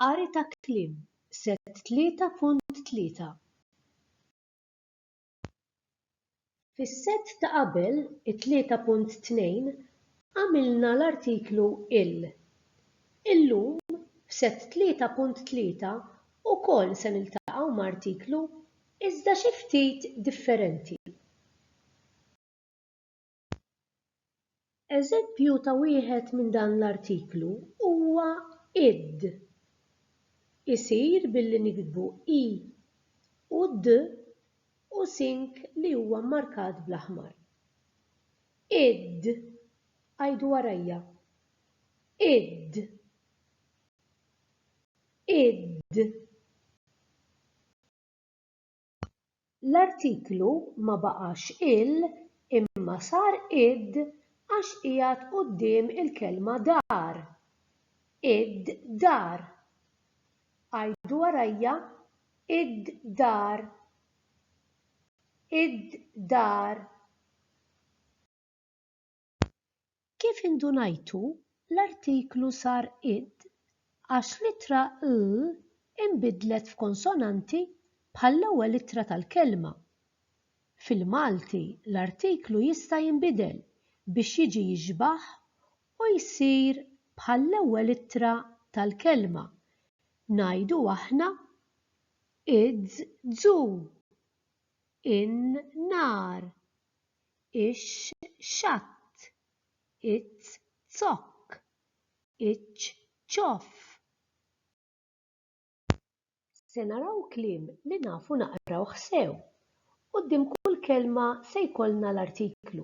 Qari ta' kliem, Set 3.3. Fis-set ta' qabel, it-3.2, għamilna l-artiklu il. Illum, f'set 3.3, ukoll se niltaqgħu ma' artiklu iżda xi ftit differenti. Eżempju ta' wieħed minn dan l-artiklu huwa id. Isir billi niktbu i u d u sink li huwa mmarkat bl-aħmar. Id. Għidu warajja. Id. Id. L-artiklu ma baqax il imma sar id għax qiegħed quddiem il-kelma dar. Id-dar. Għidu warajja, id-dar. Id-dar. Kif indunajtu, l-artiklu sar id għax l-ittra l inbidlet f'konsonanti bħall-ewwel ittra tal-kelma. Fil-Malti l-artiklu jista' jinbidel biex jiġi jixbah u jsir bħall-ewwel ittra tal-kelma, ngħidu aħna idzu, in-nar, ix-xatt, iz-zokk, iċ-ċoff. Se naraw kliem li nafu naqrawh sew. Quddiem kull kelma se jkollna l-artiklu.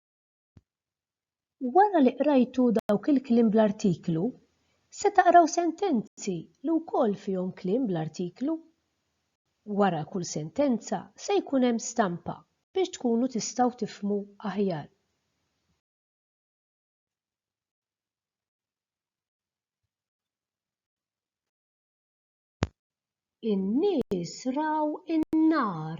Wara li qrajtu dawk il-kliem bl-artiklu, se taqraw sentenzi li wkoll fihom kliem bl-artiklu. Wara kull sentenza se jkun hemm stampa biex tkunu tistgħu tifhmu aħjar. In-nies raw in-nar.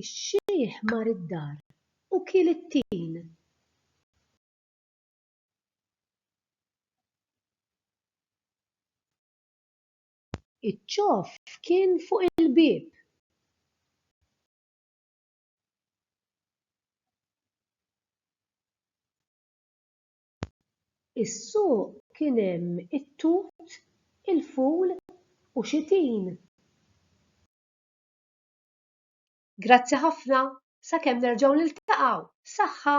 Ix-xiħ mar id-dar u kiel it-tin. Iċ-ċof kien fuq il-bieb. Is-suq kien hemm it-tut, il-ful u xi tin. Grazzi ħafna, sakemm nerġgħu niltaqgħu, saħħa!